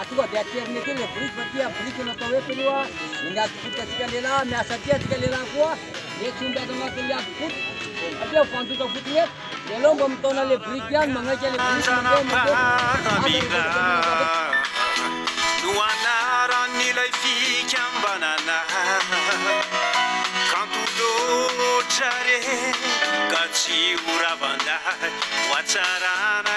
Atonga dia aterina ety ilay biriky fa tia biriky no atao hoe filoha eny adim-pototra antsika lehilahy miasa aty antsika lehilahy koa dia tsy homby ato anatin'ny adim-pototra satria ho fandoka fotsiny eto dia aleo mba mitaona ilay biriky ihany magnaika ilay biriky mandeha matetika no anaran'ilay fikambanana kanto loatra re ka tsy ho ravan-dahy ho hatsarana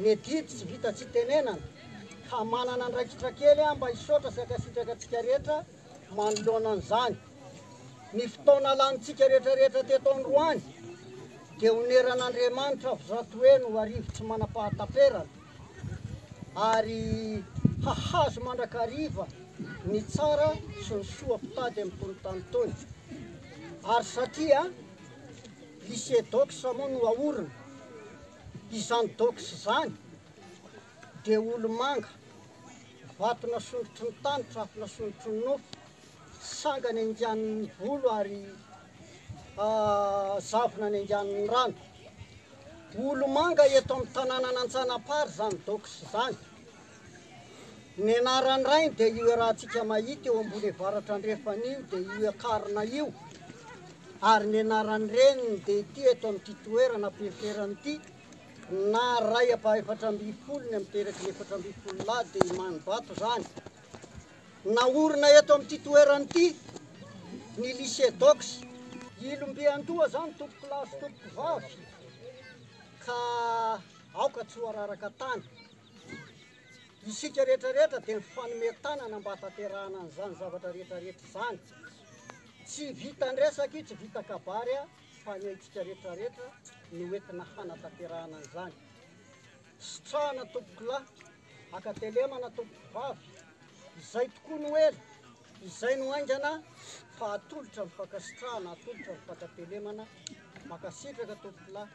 Ny adidy tsy vita tsy tenenana ka manana andraikitra kely aho mba hisaotra sy hankasitraka antsika rehetra manoloana an'izany. Ny fotoana lanintsika rehetrarehetra teto androany dia oneran'Andriamanitra avy zato heny ho arivo tsy manam-pahataperana ary hahazo mandrakariva ny tsara sy ny soa mpitady amin'itony tany itony. Ary satria lycée Dox moa no aorina Izany dox izany dia olomanga, vato nasondrotry ny tany, trafo nasondrotry ny nofo, sangany aingan'ny volo ary zavona any anganon'ny rano. Olomanga eto amin'ny tananan'Antsanapary izany dox izany. Ny anaran'ny rainy dia io iarahantsika mahita eo ambony avaratra andrefana io dia io akarina io, ary ny anaran'ny reniny dia ity eto amin'ity toerana ampiheferany ity, na ray apa efatra ambin'ny folo ny miteraky ny efatra ambin'ny folo lahy dia Imanibato izany. Naorina eto amin'ity toerana ity ny lycée Dox. Ilom-biandoha izany tompoko lahy sy tompoko vavy ka aoka tsy ho araraka tany. Isika rehetra rehetra dia mifanome tanana mba hatanterahana an'izany zavatra rehetra rehetra izany. Tsy vita andresaka io, tsy vita kabary a, fa ny antsika rehetra rehetra no entina hanatanterahana an'izany. Sitrahana tompoko lahy, hakatelemana tompoko vavy, izay tokoa no ela, izay no haingana fa atolotra ny fankasitrahana, atolotra ny fankatelemana, mankasitraka tompoko lahy.